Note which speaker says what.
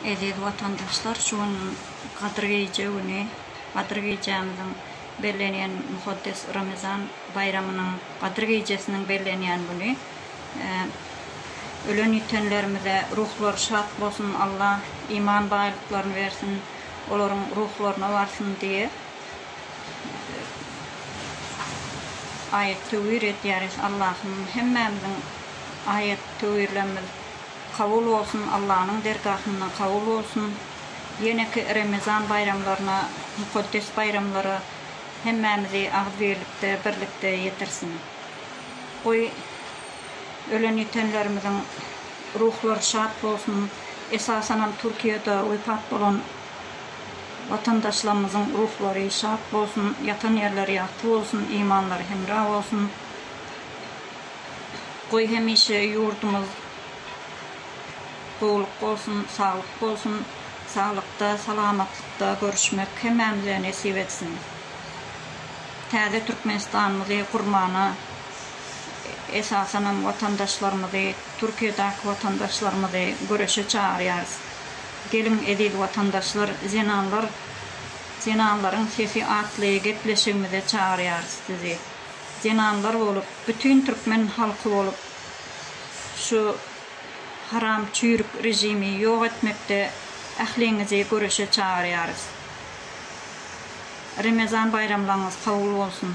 Speaker 1: Eziz watandaşlar şu gün Gadyr gije güni Gadyr gijämiziň bellenýän Muhaddes Ramezan baýramynyň Gadyr gijesiniň bellenýän güni ölen ýitenlerimize ruhlary şat bolsun Alla iman baýlyklaryny bersin olaryň ruhlaryna barsyn diýe aýat töwir edýäris Allahym hemmämiziň aýat töwirlemimiz Kabul bolsun Allanyň dergahynda kabul bolsun ýeneki Remezan baýramlaryna mukaddes baýramlara hemmämizi agzybirlikde birlikde ýetirsin goý ölen ýitenlerimiziň ruhlary şat bolsun esasanam Türkiýede wepat bolan watandaşlarymyzyň ruhlary şat bolsun ýatan ýerleri ýagty bolsun imanlary hemra bolsun. Goý hemişe ýurdumyz gowluk bolsun, saglyk bolsun, saglykda, salamatlykda görüşmek hemmämize nesip etsin. Täze Türkmenistanymyzy gurmana esasanam watandaşlarymyzy, Türkiýedäki watandaşlarymyzy göreşe çagyrýarys. Geliň eziz watandaşlar, zenanlar, zenanlaryň sesi atly gepleşigimize çagyrýarys sizi. zenanlar bolup bütin türkmen halky bolup şu haram çüýrük režimi ýok etmekde ähliňizi göreşe çagyrýarys. Remezan baýramlaňyz kabul bolsun.